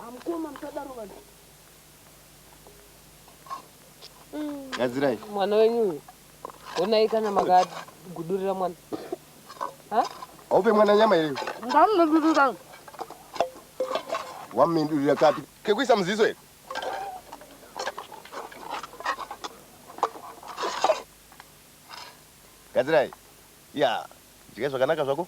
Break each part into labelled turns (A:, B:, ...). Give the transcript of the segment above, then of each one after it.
A: Hamkoma msadaro vanhu. Mm. Gadzirai. Mwana wenyu uyu.
B: Honai kana makagudurira mwana. Ha? Haupe mwana
A: nyama here? Ndamudurira. Wamindurira kapi? Kekuisa muziso here? Gadzirai. Ya, yeah. Jika zvakanaka zvako.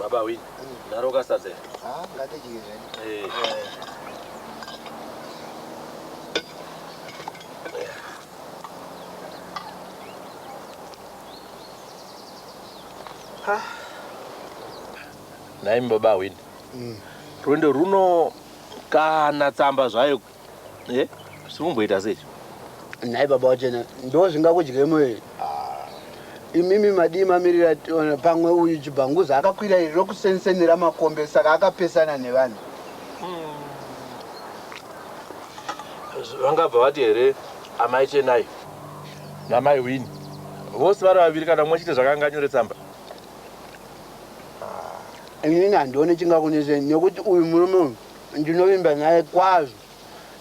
C: Baba win. Naro
A: kasadze.
C: Ah, ngati jizve. Eh. Ha. Naim baba win. Mm. Rwendo runo kana tsamba zvayo Eh, sikumboita sei? Nhai baba
D: wachena, ndo zvingakudye moyo. Ah. Imimi madii mamirira tiona pamwe uyu chibhanguza akakwira iri rokusensenera makombe saka akapesana nevanhu.
C: Hmm. Vangabva vati here amai Chenai namai Wini vose vari vaviri kana mumwe chete zvakanga anyore tsamba?
D: Ah. Inini handione chingakuneseni nekuti uyu murume uyu Ndinovimba naye kwazvo.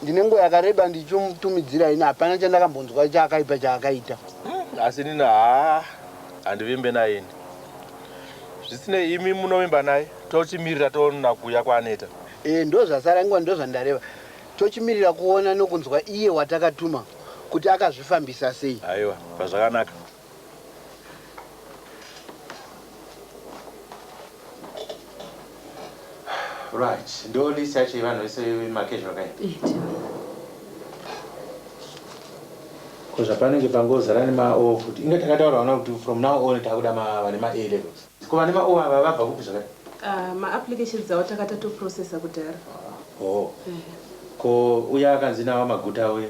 D: Ndine nguva yakareba ndichimutumidzira ini hapana chandakambonzwa chakaipa chaakaita. Asi inini
C: haa handivimbe naye ini. Zvisinei imi munovimba naye tochimirira toona kuuya kwaAneta. Eh ndozvasara
D: ingwa ndozvandareva. Tochimirira kuona nokunzwa iye watakatuma kuti akazvifambisa sei. Haiwa pazvakanaka.
E: Right. Ndo list yacho yevanhu vese vemakezho kaini. Iti. Ko zvapanenge pangozara nema O futi. Inga takataura vana kuti from now on takuda ma vane ma A levels. Ko vane ma O ava vabva kupi zvakati? Ah, ma applications awo
F: takata to processor kudhara. Oh.
E: Ko uya akanzi nawo maguta uya.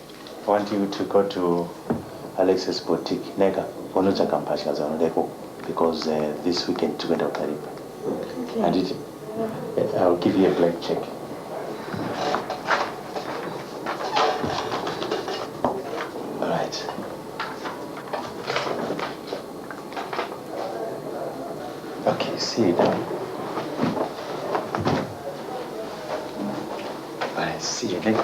E: I want you to go to Alex's boutique neka unotsvaga mbatya dzaunoda ikoko because uh, this weekend tiri kuenda kukaripa okay. anditi uh, ill give you a blank check right okay see you down right see you next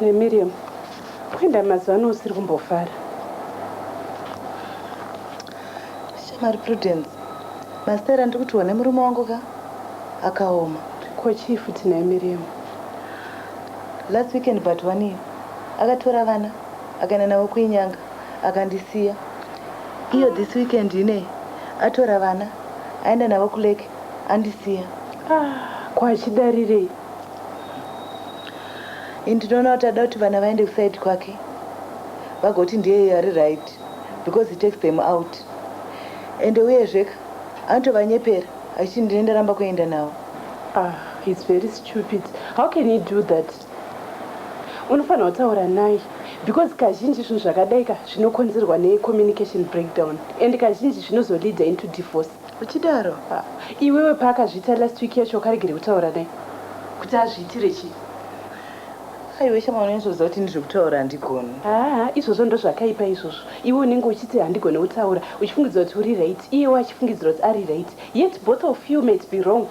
F: nemiriam kuenda mazuva ano usiri kumbofara
B: shamari prudence masera ndiri kutiwa nemurume wangu ka akaoma ko chii
F: futi naye miriam
B: last weekend but wani akatora vana akaenda navo kuinyanga akandisiya iyo this weekend inei atora vana aenda navo kulake andisiya ah,
F: kwachidarirei
B: ini ndinoona kuti ada kuti vana vaende kusaidi kwake vagoti ndiye ari right because he takes them out ende uyezveka anotovanyepera achiti ndine ndaramba kuenda navo ah, he's
F: very stupid how can he do that unofanira kutaura naye because kazhinji zvinhu zvakadaika zvinokonzerwa necommunication breakdown and kazhinji zvinozoleader into divorce Uchidaro aah
B: iwewe
F: paakazviita last week yacho wakaregere kutaura naye kuti azviitire chii.
B: Aiwe shamwari unonyatsoziva kuti ini zvekutaura handigoni. Haa izvozvo
F: ndozvakaipa izvozvo iwe unenge uchiti handigone kutaura uchifungidzira kuti uri right iyewo achifungidzira kuti ari right yet both of you might be wrong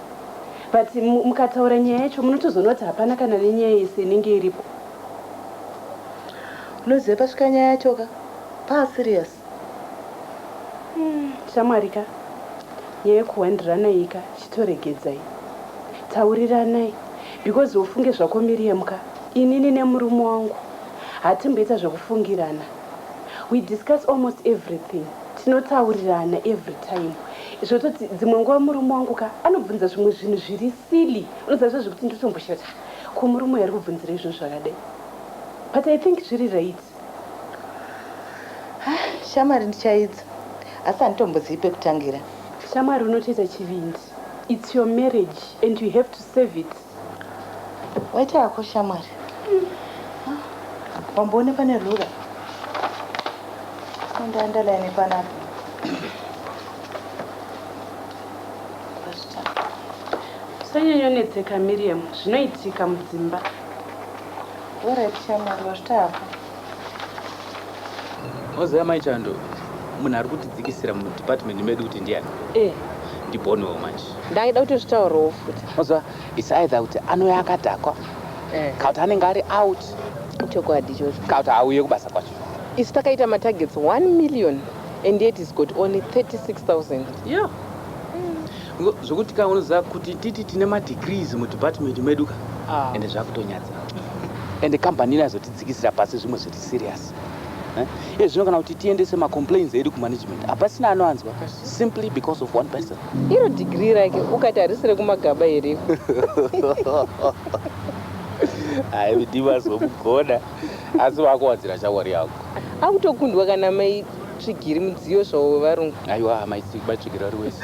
F: but mukataura nyaya yacho munotozoona kuti hapana kana nenyaya yese inenge iripo.
B: Unoziva pasvika nyaya yacho ka paa serious. Hmm,
F: shamwari ka nyaya yekuhwandiranai ka chitoregedzai tauriranai because ufunge zvako Miriam ka inini nemurume wangu hatimboita zvekufungirana we discuss almost everything tinotaurirana every time zvototi dzimwe nguva murume wangu ka anobvunza zvimwe zvinhu zviri silly unozazva zvekuti ndotomboshata ko murume ari kubvunzira izvinhu zvakadai but i think zviri right
B: Shamwari ndichaidza asi handitombozivi pekutangira. Shamwari unotoita
F: chivindi. It's your marriage and you have to save it.
B: Waita yako shamwari. Wamboone pane rura. Enda underline panapa.
F: Usanyanyonetseka Miriam, zvinoitika mudzimba.
B: Alright shamwari
G: wazvita hako. Moziva mai Chando munhu ari kutidzikisira mudepartment medu kuti ndiani? Eh. Ndiboniwo manje. Ndaida kuti zvitaurewo
B: futi. Moziva it's
G: either kuti anouya akadhakwa eh. kana kuti anenge ari out. Chokwadi
B: ichocho. Kana kuti auye kubasa
G: kwacho. Isu takaita
B: matargets 1 million and yet he's got only 36000. Yeah.
G: Zvekuti ka unoziva kuti titi tine madegrees mudepartment medu ka ah. ende zvakutonyadza ende kambani ino yazotidzikisira pasi zvimwe zviri serious eh? iye zvino kana kuti tiendese macomplains edu kumanagement hapasina anoanzwa simply because of one person iro degree rake
B: ukati harisi rekumagaba here
G: hai vidi vazokugona asi vakuwadzira shawari yako akutokundwa
B: kana mai Tsvigiri mudziyo zvawo wevarungu. Aiwa amai Sigba
G: tsvigiri ari wese.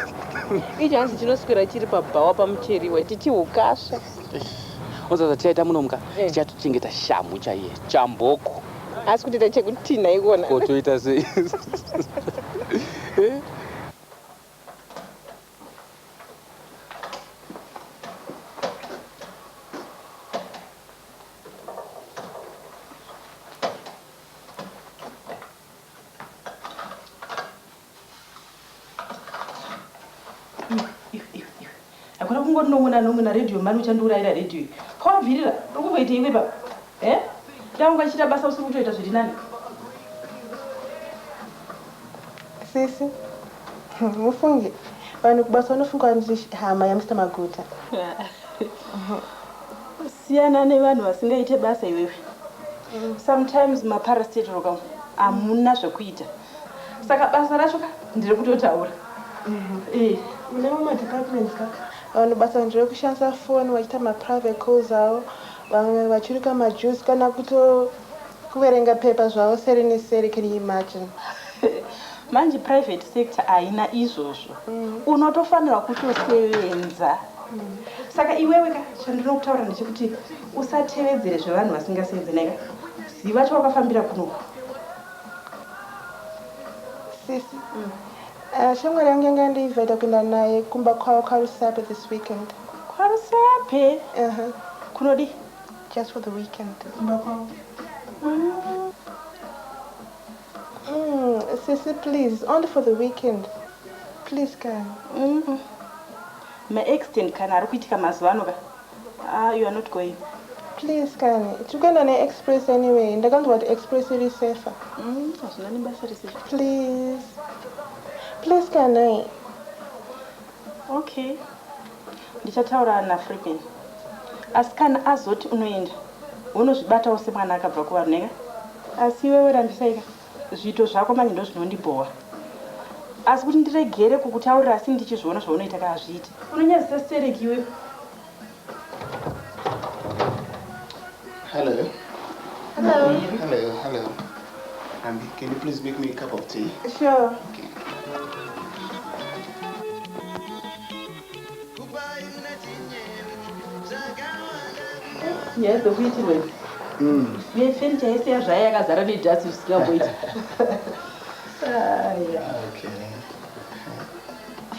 G: Ichi hanzi
B: chinoswera chiri pabhawa pamucheriwa chichi hukasha.
G: Oza zvatichaita muno muka eh. tichatochengeta shamhu chaiye chamboko. Asi kutoita
B: chekutinha ikona. Ko toita sei?
G: Eh?
F: hakuna kungoti nomwe nanomwe naredhiyo mani uchandiurayira redhiyo iyi kobvirira uri kumboita iwe baba e eh? daunga ichiita basa usiri kutoita zviri nani
H: sisi mufungi vanhu kubasa vanofunga vanzi hama yamr maguta
F: Siyana nevanhu vasingaite basa iwewe. Sometimes maparastatal ka hamuna zvekuita. Saka basa racho ka ndiri kutotaura.
H: Eh. Mune mamwe departments ka vanhu basa nderekushandisa phone vachiita maprivate calls avo, vamwe vachirika majuice kana kuto kuverenga paper zvavo seri neseri. Can you imagine? Manje
F: private sector haina izvozvo. Unotofanirwa kutosevenza. Saka iwewe ka chandinokutaura ndechekuti usatevedzere zvevanhu vasingasenze naye ka. Ziva chawakafambira kunoku.
H: Sisi. Mm. Uh, shamwari yangu yanga yandiinvita kuenda naye kumba kwavo kwaRusape this weekend. KwaRusape?
F: Uh -huh. Kunodi? Just for
H: the weekend. Kumba
F: kwavo.
H: Mm. Mm, sisi please, only for the weekend. Please, guy. Mm -hmm. Ma
F: accident kani arikuitika mazuva ano ka haa you are not going. Please kani
H: tirikuenda ne express anyway ndakanzwa kuti express iri safer. Umm hazvina nebasa
F: rese. Please
H: please kani. Ok
F: ndichataura na Freeman asi kana azoti unoenda wonozvibatawo semwana akabva kuvanhu neka. Asi iwewe rambisaika. Zviito zvako manje ndozvinondibhowa asi kuti ndiregere kukutaurira asi ndichizviona zvaunoita ka hazviite. Unonyadzisa stereki iwe.
A: Hello.
H: Hello. Hello,
A: hello. Ambi, can you please make me a cup of tea? Sure. Okay.
F: nyaya dzekuitirwa idzi mm. nefenicha yese yazvaya yakazara nedhasi zvisingamboiti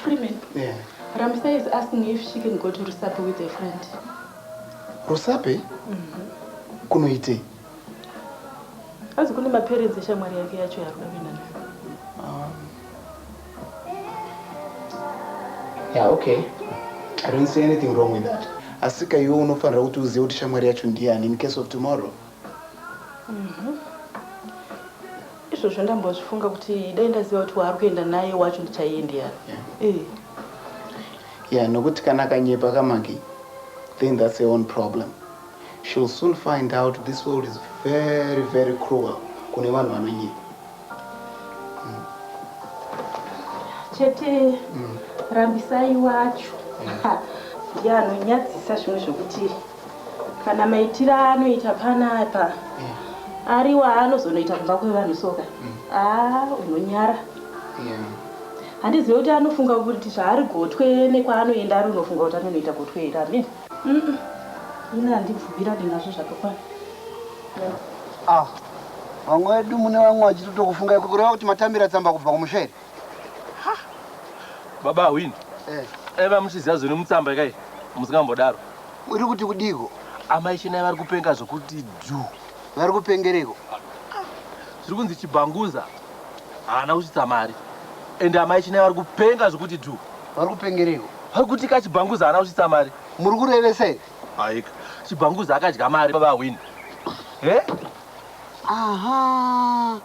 F: freeman ramisa
A: is asking
F: if she can go to rusape with a friend
A: rusape mhm. kunoitei
F: azi kune maparents eshamwari yake yacho yaari kuda kuenda nayo
A: Yeah, okay. I don't see anything wrong with that. Asika iwe unofanira kuti uzive kuti shamwari yacho ndiyani in case of tomorrow.
F: Mhm. Izvozvo ndambozvifunga kuti dai ndaziva kuti waari kuenda naye wacho ndichaiye ndiyani. Yeah.
A: Eh. Yeah, nokuti kana akanyepa kamagi then that's her own problem. She'll soon find out this world is very very cruel kune vanhu vanonyepa.
F: chete mm. rambisai wacho ya anonyadzisa zvimwe zvokuti kana maitiro aanoita panapa mm. ari waanozonoita kumba kwevanhu soka mm. a ah, unonyara handizive kuti anofunga kuti zvaari gotwe nekwaanoenda ari unofunga kuti anonoita gotwe here amene ina handibvumira dinazvo zvakakwana ah.
D: Vamwe vedu mune vamwe vachitotokufungai kureva kuti matambira tsamba kubva kumusha here?
C: Baba Ahwini, eh. aiva muchiziva zviri mutsamba ikai musingambodaro. Uri kuti
D: kudiko? Amai Chenai vari
C: kupenga zvokuti dhu. Vari kupengereko? Zviri kunzi Chibhanguza haana kusvitsa mari ende amai Chenai vari kupenga zvokuti dhu. Vari kupengereko?
D: Vari kuti ka Chibhanguza
C: haana kusvitsa mari. Muri kurevesa here?
D: Haika
C: chibhanguza akadya mari baba win. Eh?
D: Aha.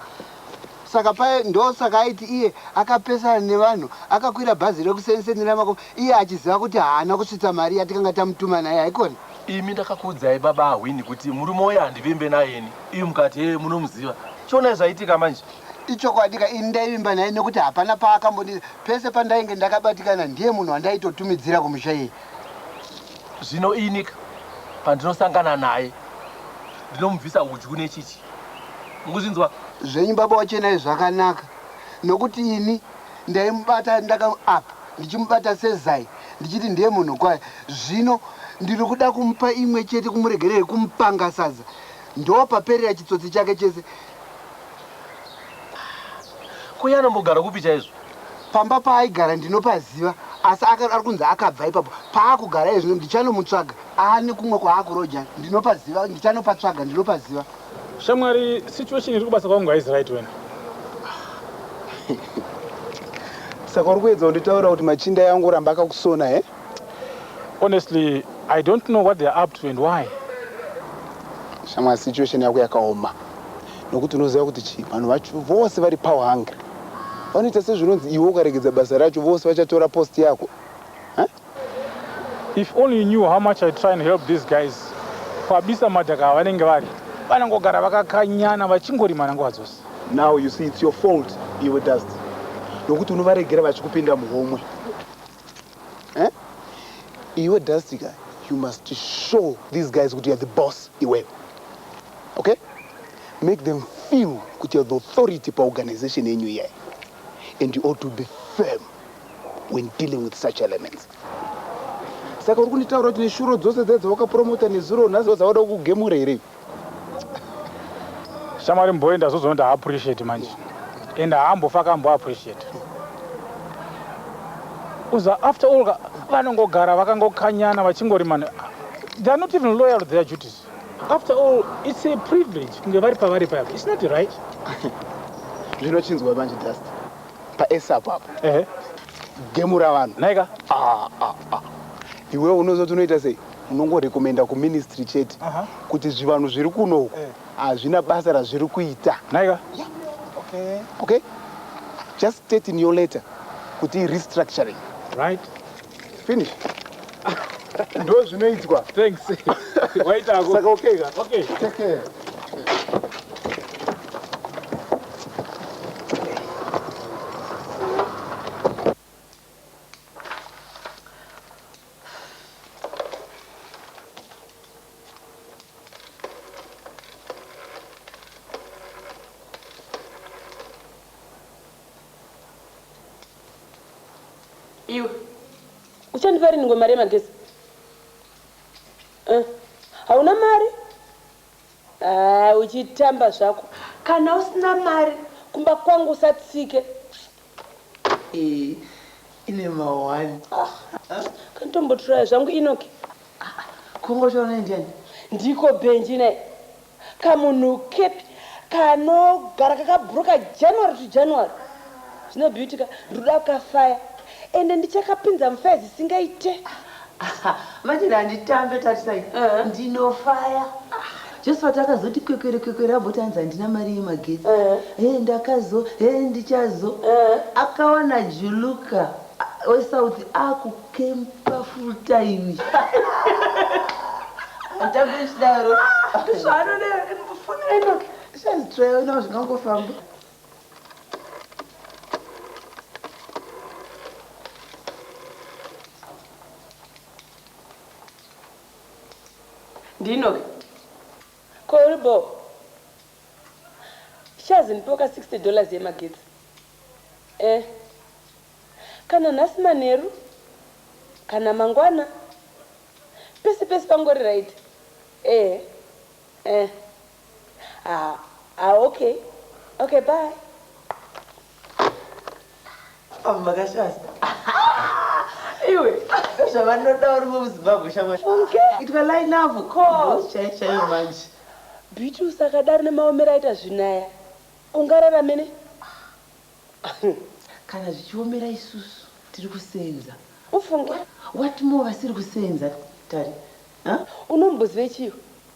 D: Saka paye ndo saka aiti iye akapesana nevanhu akakwira bhazi rekusensenera mako iye achiziva kuti haana kusvitsa mari yatikanga tamutuma naye haikona. Imi ndakakuudzai
C: baba Ahwini kuti murume uya handivimbe nayeni. Iyu mukati hee munomuziva. Chionai zvaitika manje. Ichokwadika ini
D: ndaivimba naye nekuti hapana paakambondiza pese pandainge ndakabatikana ndiye munhu wandaitotumidzira kumusha iye.
C: Zvino inika pandinosangana naye ndinomubvisa hudyu nechityi. Mukuzvinzwa? Zvenyu baba
D: waChenai zvakanaka nokuti ini ndaimubata ndaka apa ndichimubata sezai ndichiti ndiye munhu kwaye zvino ndiri kuda kumupa imwe chete kumuregerera kumupanga sadza ndopaperera chitsotsi chake chese
C: Ko iye anombogara kupi chaizvo? Pamba paaigara
D: ndinopaziva asi ari kunzi akabva ipapo paakugara iye zvino. Ndichanomutsvaga aane kumwe kwaakuroja ndinopaziva. Ndichanopatsvaga ndinopaziva. Shamwari,
I: situation iri kubasa kwangu haizi right wena.
A: Saka uri kuedza kunditaurira kuti machinda eangu oramba akakusona he?
I: Honestly, I don't know what they are up to and why.
A: Shamwari, situation yako yakaoma nokuti unoziva kuti chii, vanhu vacho vose vari power hungry. Vanoita sezvinonzi iwe ukaregedza basa racho vose vachatora post yako. Huh?
I: If only you knew how much I try and help these guys. Kwabisa madhaka vanenge vari vanangogara vakakanyana vachingorimana nguva dzose. Now you see it's
A: your fault iwe Dust nokuti unovaregera vachikupinda muhomwe. Eh? Iwe Dastika, you must show these guys kuti you're the boss iwewe. Okay? Make them feel kuti you're the authority paorganization yenyu iyayi. And you ought to be firm when dealing with such elements. Saka uri kunditaura kuti neshuro dzose dze dzawakapromota nezuro nhasi dzawada kugemura here?
I: Shamwari mboe ndazozoona kuti haappreciate manje and haambofa akambo appreciate uza after all vanongogara vakangokanyana vachingorimana theyare not even loyal to their duties after all it's a privilege kunge vari pavari paya it's not right zvino chinzwa
A: manje dust paesa apapo ehe gemura vanhu naika ah,
I: ah, ah.
A: iwewe unozoti unoita sei unongorekomenda kuministry chete kuti zvivanhu zviri kuno uku eh. hazvina basa razviri kuita naika okay just state in your letter kuti restructuring right
I: finish
A: ndo zvinoitwa thanks
I: waitako saka okay ka okay
A: take care
F: iwe uchandipa rinhi ngomari yemagezi eh, hauna mari ah, uchitamba zvako kana usina mari kumba kwangu usatsike iyi
B: ine ma one.
F: Kanditombotraya zvangu Enoch. Kungotaura
B: naye ndiani? Ndiko Benji
F: naye kamunhu kepi kanogara kakabhuruka January to January. Zvino Beauty ka ndiri kuda kukafaya ende ndichakapinza mufaya zisingaite. Aha
B: manje handitambe tarisai ndinofaya. Josephat akazoti kwekwere kwekwere abvoti hanzi handina mari yemagetsi hee ndakazo hee ndichazo akawana Juluka weSouth akukempa full time. Handitambe ndichidaro. Ndozvaanodero. Foni yaInoki. Ndichazvitraya unawo zvingangofamba.
F: ndinoke ko uri bo shazi ndipewo ka 60 dollars yemagetsi eh kana nhasi manheru kana mangwana pese pese pangori right eh eh Haa ah ok ok bye.
B: Avo vakashasa iwe zvavanoda vari muzimbabwe shamwari itwa line avo coz chai chaiyo manje beauty
F: usakadaro nemaomero aita zvinaya ungarara mene
B: kana zvichiomera isusu tiri kusenza ufunge
F: what more
B: vasiri kusenza tari
F: unombozive chiyo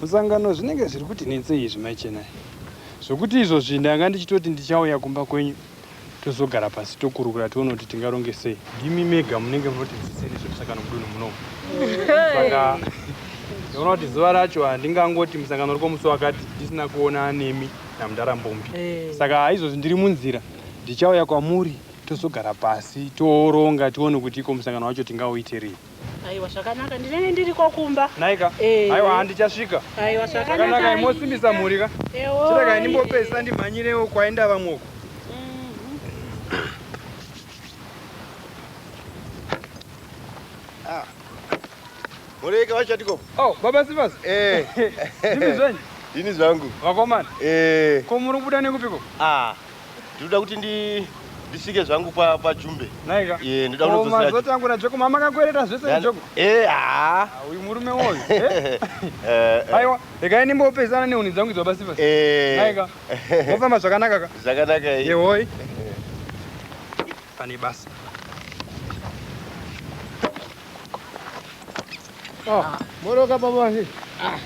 J: Musangano zvinenge zviri kuti netsei izvi mai Chenai zvokuti izvozvi ndanga ndichitoti ndichauya kumba kwenyu tozogara pasi tokurukura tione kuti tingaronge sei. Ndimi mega munenge munotidzidzisa nezvemusangano mudunhu muno. Saka ndinoona kuti zuva racho handingangoti musangano uri kwomusi wakati ndisina kuona nemi namudhara Mbombi. Eh. Saka izvozvi ndiri munzira ndichauya kwamuri tozogara pasi tooronga tione kuti iko musangano wacho tingauite rini. Aiwa
K: zvakanaka ndinenge ndiriko kumba. Naika. Eh. Aiwa
J: handichasvika. Aiwa zvakanaka.
K: Zvakanaka imosimbisa mhuri
J: ka. Ewo. Chirega indimbopesa ndimhanyirewo kwaenda vamwe uko.
L: Ah. Mureka vachatiko. Oh, baba Sivas.
J: Eh. Ndimi zvenyu. Ndini zvangu.
L: Vakomana. Eh.
J: Ko muri kubuda nekupiko? Ah. Ndinoda
L: kuti ndi ndisvike zvangu pa pa Jumbe. Naika. Eh, ndoda
J: Oh, kunozosira. mazoti
L: angu na Joko mama
J: makakwereta zvese na Joko. Eh, ah. Ah, Uyu murume woyu. Eh? Eh, eh. Aiwa, regai ndimbopesana nehuni dzangu idzo basi basi. Eh. Naika. Mofamba zvakanaka ka. Zvakanaka eh. Yehoi. Pane basa.
L: Ah, moroka baba he. Ah.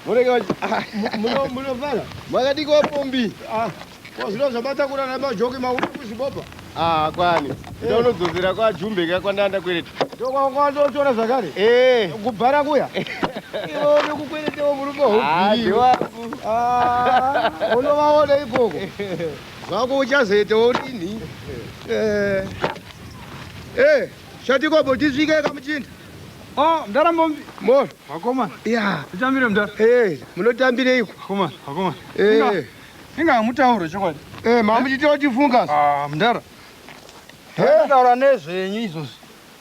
L: Moroka wachi. Ah. Muno muno fana. Makadiki wa pombi. Ah. Kwa zvino zvabata kura na majoki mauri kuzvibopa. Ah, kwani. Eh. Ndio unodzozera kwa jumbe ka kwanda anda kwereta. Ndio kwa kwa ndio chora
M: zvakare. Eh. Kubhara kuya. Iwo ni kukwereta wa murume hobi. Ah, ndiwa. Ah. Unovaona ikoko. Zvako uchazoita urini. Eh. Eh, shatikobo tisvike kamuchinda. Oh, mdara
J: mombi. Mor.
M: Vakoma. Yeah.
J: Tichambire
M: mdara.
J: Eh, munotambire iko.
M: Vakoma, vakoma.
J: Eh.
M: Inga mutauro chokwadi. Eh, mambo chiti otifunga. Ah, mdara.
J: Eh, taura nezvenyu izvozvi.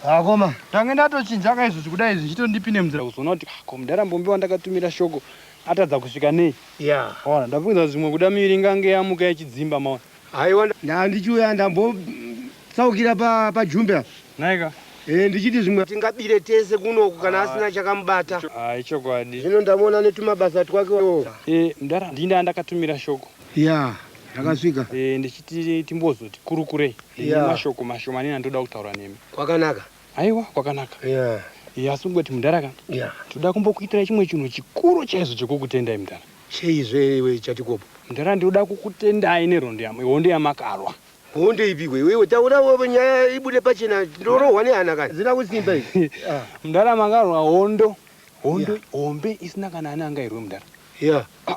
J: Vakoma. Ah,
M: Tange ndatochinja
J: ka izvozvi kudai izvi chito ndipine mdara kuzoona kuti ah, ko mdara mombi wandakatumira shoko atadza kusvika nei. Yeah. Ona, ndafunga
M: zvimwe
J: kuda miri ngange yamuka ichidzimba maona. Haiwa nda
M: ndichiuya ndambotsaukira pa pajumbe apa. Naika.
J: Eh ndichiti zvimwe
M: tingabire tese kuno uku kana asina chakamubata. Ah ichokwadi. Zvino
J: ndamuona
M: netumabasa twake wo. Eh mdara ndini
J: ndandakatumira shoko. Yeah
M: rakasvika. Eh ndichiti
J: timbozoti kurukurei. Yeah. Mashoko mashomanene andoda kutaura nemi. Kwakanaka. Aiwa
M: kwakanaka.
J: Yeah. Yeah, asi kungoti mudhara ka. Yeah. Toda kumbokuitira chimwe chinhu chikuru chaizvo chekukutendai mudhara. Cheizve iwe
M: chatikopo. Mudhara ndinoda
J: kukutendai nehondo yam hondo yamakarwa. Hondo ipi iwe
M: iwe taura wewe nyaya ibude pachena ndorohwa nehana kana. Zina kusimba iwe. Ah. Mudhara makarwa
J: hondo. Hondo yeah. hombe isina kana ana angairwe mudhara. Yeah. Ah,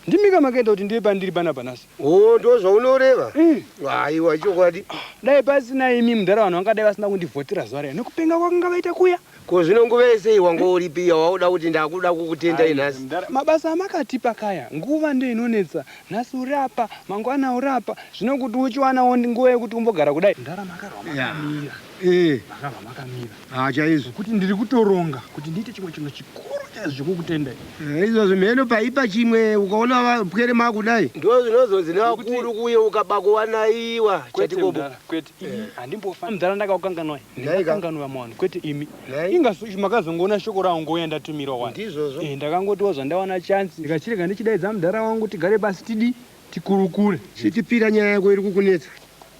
J: ndimika makaita kuti ndive pandiri panapa nhasi. Oh, ndozvaunoreva?
M: Mm. Aiwa, ichokwadi. Ah, dai pasina
J: imi mudhara vanhu vangadai vasina kundivhotera zuva riya nekupenga kwakanga vaita kuya. Ko zvino nguva yese
M: iyi wanga uripi iya wauda kuti ndakuda kukutendai nhasi? Mabasa amakatipa
J: kaya nguva ndiyo inonetsa. Nhasi uri apa, mangwana uri apa. Zvino kuti uchiwanawo nguva yekuti umbogara kudai. Mudhara makarwa makamira. Eh. Makarwa makamira. Ah chaizvo. Kuti ndiri
M: kutoronga
J: kuti ndiite chimwe chinhu chikuru chaizvo chekukutendai. Eh, izvozvo mheno
M: paipa chimwe ukaona vapwere makudai. Ndoo zvinozonzi nevakuru kuye ukaba kuwanaiwa chatikobo. Kwete imi eh.
J: handimbofa mdhara ndakakukanganwai. Ndakakanganwa mwana kwete imi. Inga makazongoona shoko rangu ngouya ndatumirwa wani. Ndizvozvo. Eh ndakangotiwa
M: zvandawana
J: chance ndikachirega ndichidaidza mdhara wangu tigare pasi tidi tikurukure. Chitipira nyaya
M: yako iri kukunetsa.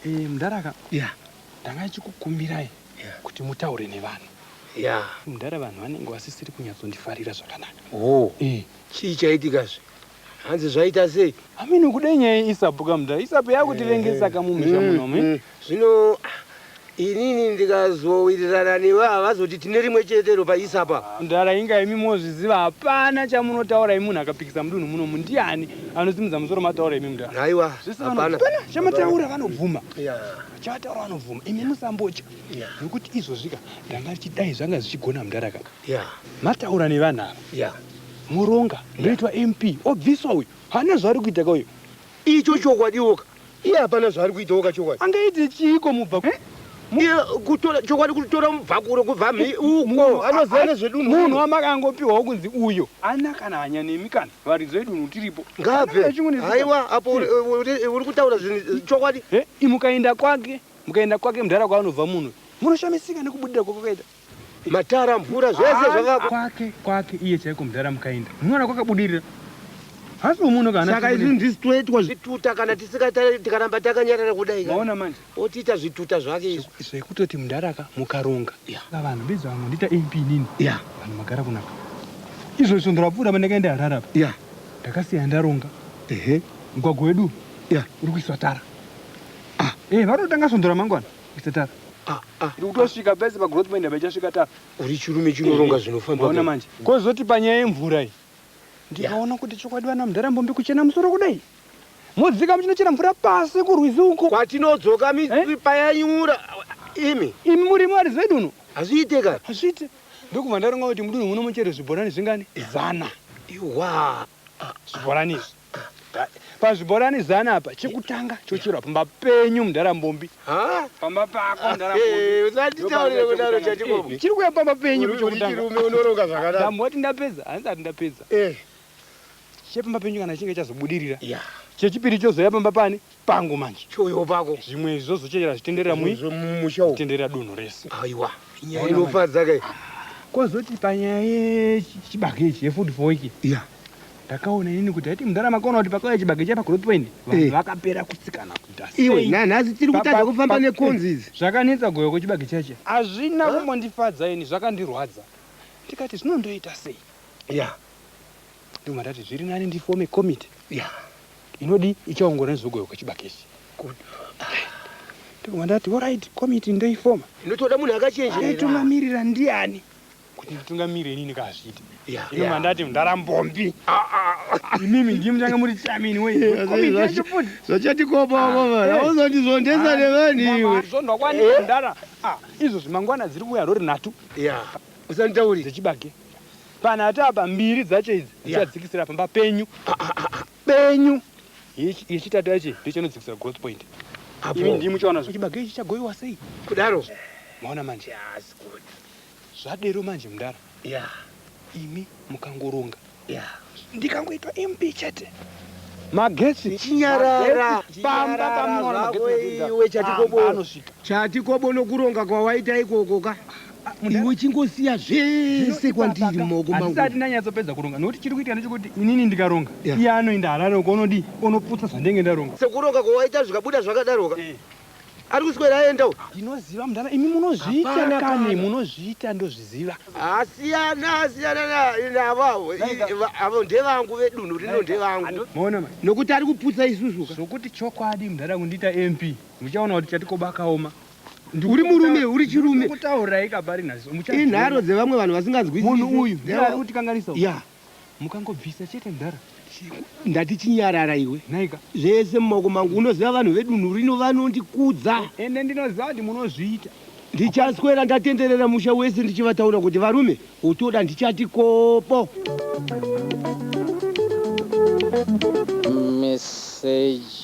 M: Eh mdhara
J: ka. Yeah. Ndanga ndichikukumbirai kuti mutaure nevanhu. Yeah. Mdara vanhu vanenge vasisiri kunyatsondifarira zvakanaka. Oh. Eh. Chii
M: chaitika zve? Hanzi zvaita sei? Ameno kudai nyaya
J: yeisapu ka mdara. Isapu yakutivengesa ka mumisha mm, muno. Mm. Zvino
M: inini ndikazowirirana newe havazoti tine rimwe chetero paisapa ndara inga imi
J: mozviziva hapana chamunotaura imi munhu akapikisa mudunhu muno mundiani anosimudza musoro mataura imi mudara aiwa zvese vanopana
M: chamataura
J: vanobvuma Chataura anobvuma imi musambotya nokuti izvozvika ndanga richidai zvanga zvichigona mudhara ka mataura nevanhu ava moronga ndoitwa MP obviswa uyu haana zvaari kuita ka uyu icho
M: chokwadiwoka iye hapana zvaari kuitawoka chokwadi angaite chiiko mubva
J: kutora
M: chokwadi kutora mubvakuro kubva uko anoziva nezvedunhu munhu wamakangopiwawo
J: kunzi uyo ana kana hanya nemi kana Varidzi vedunhu tiripo. Ngaabve. Haiwa
M: apo uri kutaura zvinhu chokwadi. Mukaenda kwake,
J: mukaenda kwake mudhara kwaanobva munhu. Munoshamisika nekubudira kwakaita. Matara,
M: mvura zvese zvakako. Kwake, kwake iye chaiko
J: mudhara mukaenda. Munoona kwakabudirira. Hasi umuno kana. Saka izvi ndizvi toitwa
M: zvituta kana tisikatari tikaramba takanyarara kudai. Maona manje. otiita
J: zvituta
M: zvake izvo zvekutoti mudhara ka
J: mukaronga yeah. vanhu beza vamwe ndiita mp nini yeah. vanhu magara kunaka izvo svondo rapfuura pane kaenda harara pa yeah. ndakasiya ndaronga ehe mugwagwa wedu yeah. uri kuiswa tara ah. e vanotanga svondo ramangwana kuisa tara ah, ah, iri kutosvika ah. pese pagrowth point apa ichasvika tara uri chirume chinoronga
M: eh, zvinofambaona manje kozoti
J: panyaya yemvura iyi ndikaona yeah. kuti chokwadi vana mudhara mbombi kuchena musoro kudai Modzikama tinochera mvura pasi kurwizi uko. Kwatinodzoka
M: misri
J: payanyura imi. Imi muri
M: Mwari
J: zvedunhu.
M: Hazviite ka. Hazviite. Ndokubva
J: ndaronga kuti mudunhu muno mucherwe zvibhorani zvingani? Zana. Iwaa.
M: Zvibhorani
J: izvi. Pazvibhorani zana apa chekutanga chocherwa pamba penyu mdara Mbombi. Haa. Pamba
M: pako mdara
J: Mbombi. Usatitaurire kudaro
M: chatikopo. Chiri kuuya pamba penyu
J: chekutanga. Uri chirume unoronga zvakadaro.
M: Ndamboti ndapedza,
J: handisati ndapedza. Eh. chepamba penyu kana chinge chazobudirira yeah. chechipiri chozouya pamba pani pangu manje chouyo pako zvimwe
M: izvi zvozochera
J: zvitenderera mumusha zvitenderera
M: dunhu rese
J: aiwa nyaya
M: inofadza kai kozoti
J: panyaya yechibage ichi yefood for week yeah. ndakaona inini kuti haiti mudhara makaona kuti pakauya chibage chapa group point vanhu eh. vakapera kutsikana kuita iwe nanhasi tiri kutadza
M: kufamba nekonzi idzi zvakanetsa goyo kwechibage
J: chacho hazvina kumbondifadza ini zvakandirwadza ndikati zvinondoita sei ya yeah. ndobva ndati zviri nani ndifome committee yeah. inodi ichaongorora nezvekugoiwa kwechibakisi ndobva ndati orit committee ndoifoma inotoda munhu
M: akachenjeaitungamirira ndiani
J: kuti nditungamirire inini kazviti yeah, inobva yeah. ndati ndarambombi ah, ah, ah. imimi ndiye mutange muri chamini wezvachatikopaaauzondizvondesa
M: eh. nevaniwezvondakwanidara
J: eh. izvo zvimangwana dziri kuuya rori nhatu yeah. usanditauri
M: dzechibage
J: Panhatu apa mbiri dzacho idzi ndichadzikisira yeah. pamba penyu penyu yechitatu yacho ndichinodzikisira growth point imi ndii muchaona zvo chibage ichi chagoiwa sei kudaro
M: maona manje
J: yes, good. zvadero manje mudara yeah. imi mukangoronga yeah. ndikangoitwa mp chete magetsi chinyarara
M: pamba pamunoona
J: magetsi iwe chatikobo
M: chatikobo
L: nokuronga kwawaita ikoko ka iwe uchingosiya zvese kwandiri maoko mangu handisati ndanyatsopedza kuronga
J: nokuti chiri kuitika ndechekuti inini ndikaronga Yeah. iye anoenda harare uko unodii unoputsa zvandenge ndaronga sekuronga kwawaita zvikabuda
M: zvakadaroka Eh. ari kuswera aendawo ndinoziva mudhara imi
J: munozviita Hapana kani kana. munozviita ndozviziva asiyana
M: asiyana na- navo avo I- va- avo ndevangu vedunhu rino ndevangu maona ma nokuti ari
J: kuputsa isusu
L: ka zvokuti chokwadi mudhara
J: kundiita mp muchaona kuti chatikoba kaoma uri murume
L: uri chirume kutaurai kabari nazo
J: muchati inharo dzevamwe
L: vanhu vasinganzwi munhu uyu ari kuti
J: kanganisa ya mukangobvisa chete mdara ndati
L: chinyarara iwe naika zvese
J: mumaoko mangu
L: unoziva vanhu vedunhu rino vanondikudza ende ndinoziva
J: kuti munozviita ndichaswera
L: ndatenderera musha wese ndichivataura kuti varume utoda ndichati kopo
N: message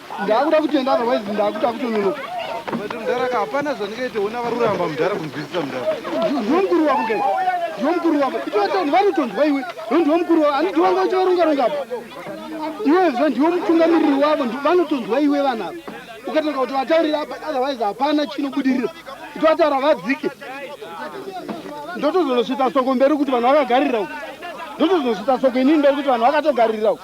L: Ndakuda kutenda otherwise ndakuda kutononoka. But mdara ka hapana zvandingaite ona varuramba mdara kunzwisisa mdara. Ndimukuru wako ke. Ndimukuru wako. Itoto ndivanotonzwa iwe. Ndimukuru wako. Ani ndiwanga uchivarunga runga apa. Iwe zva ndiwo mutungamiriri wavo vanotonzwa iwe vana apa. Ukatanga kuti vataurira apa otherwise hapana chinobudirira. Itotaura vadzike. Ndotozonosvitsa soko mberi kuti vanhu vakagarira uko. Ndotozonosvitsa soko inini mberi kuti vanhu vakatogarira uko.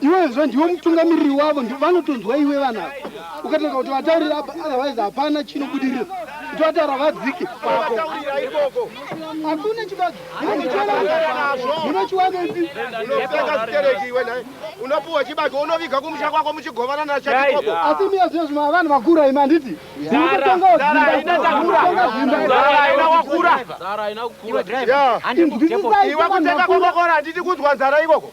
L: Iwezvo ndiwo mutungamiriri wavo ndi vanotonzwa iwe vana ukatanga kuti vataurira apa otherwise hapana chinobudirira kuti vataura vadzike pako hakuna chibagi munochiwanepi
M: unopuwa chibagi unoviga kumusha kwako muchigovana nachaioko asi miya zviya zvima vanhu
L: vakura ima handiti iwe kutenga
M: kwokokora handiti kunzwa nzara ikoko